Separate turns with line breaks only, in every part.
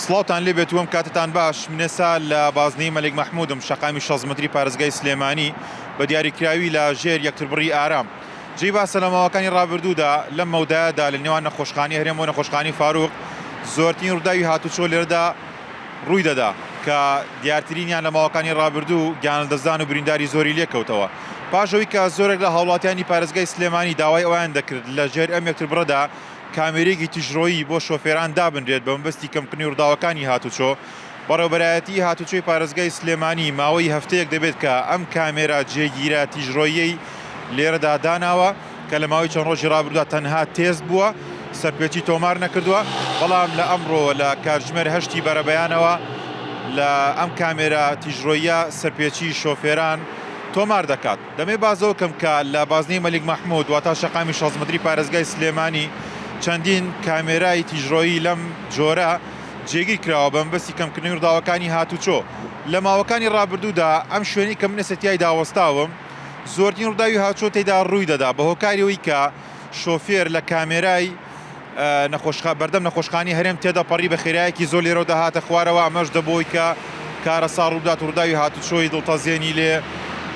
سڵاوتان لێ بێت وەم کاتتان باش من ئێستا لە بازنەی مەلک مەحمودم شەقامی شەست مەتری پارێزگای سلێمانی بە دیاریکراوی لە ژێر یەکتربڕی ئارام جێی باسە لە ماوەکانی ڕابردوودا لەم مەودایەدا لە نێوان نەخۆشخانی هەرێم و نەخۆشخانی فاروق زۆرترین ڕووداوی هاتوچۆ لێرەدا ڕووی دەدا کە دیارترینیان لە ماوەکانی ڕابردوو گیانلەدەستدان و برینداری زۆری لێکەوتەوە پاشەوەی کە زۆرێک لە هاوڵاتیانی پارێزگای سلێمانی داوای ئەویان دەکرد لە ژێر ئەم یەکتربڕەدا کامێرەیەکی تیژڕۆیی بۆ شۆفێران دابنرێت بە مەبەستی کەمکردنی ڕووداوەکانی هاتوچۆ. بەڕێوەبەرایەتیی هاتوچۆی پارێزگای سلێمانی ماوەی هەفتەیەک دەبێت کە ئەم کامێرا جێگیرە تیژڕۆییەی لێرەدا داناوە کە لە ماوەی چەند ڕۆژی ڕابردوودا تەنها تێست بووە، سەرپێچی تۆمار نەکردووە، بەڵام لە ئەمڕۆ لە کاتژمێر هەشتی بەرەبەیانەوە لە ئەم کامێرا تیژڕۆییە سەرپێچی شۆفێران تۆمار دەکات. دەمێ بازەوە کەم بکا لە بازنەی مەلیک مەحمود واتا شەقامی شەست مەتری پارێزگای سلێمانی چەندین کامێرای تیژڕۆیی لەم جۆرە جێگیر کراوە بە مەبەستی کەمکردنەوی ڕووداوەکانی هاتوچۆ لە ماوەکانی ڕابردوودا ئەم شوێنەی کە من ئێستا تیایدا وەستاوم زۆرترین ڕووداوی هاوچۆ تێدا ڕووی دەدا بە هۆکاریەوەی کە شۆفێر لە کامێرای نەخۆشخا بەردەم نەخۆشخانی هەرێم تێدەپەڕی بە خێرایەکی زۆر لێرەوە دەهاتە خوارەوە ئەمەش دەبووی کە کارەسا ڕوودات و ڕووداوی هاتوچۆی دڵتەزێنی لێ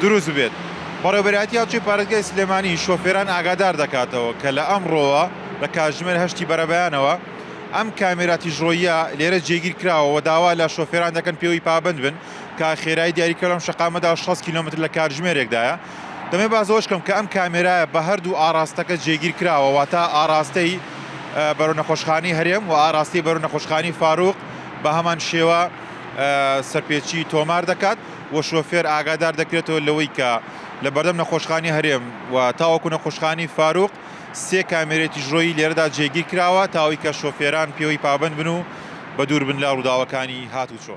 دروست بێت. بەڕێوەبەرایەتی هاوچەی پارێزگای سلێمانی شۆفێران ئاگادار دەکاتەوە کە لە ئەمڕۆوە لە کاتژمێر هەشتی بەرەبەیانەوە ئەم کامێرا تیژڕۆییە لێرە جێگیر کراوە و داوا لە شۆفێران دەکەن پێوەی پابەند بن کە خێرای دیاریکراو لەم شەقامەدا شەست کیلۆمەتر لە کاتژمێرێکدایە. دەمەوێت باس لەوەش بکەم کە ئەم کامێرایە بە هەردوو ئاڕاستەکە جێگیر کراوە، واتە ئاڕاستەی بەرەو نەخۆشخانەی هەرێم و ئاڕاستەی بەرەو نەخۆشخانەی فاروق بە هەمان شێوە سەرپێچی تۆمار دەکات و شۆفێر ئاگادار دەکرێتەوە لەوەی کە لە بەردەم نەخۆشخانی هەرێم و تاوەکو نەخۆشخانی فاروق سێ کامێرەی تیژڕۆیی لێرەدا جێگیر کراوە تاوەی کە شۆفێران پێوەی پابند بن و بە دوور بن لە ڕووداوەکانی هاتوچۆ.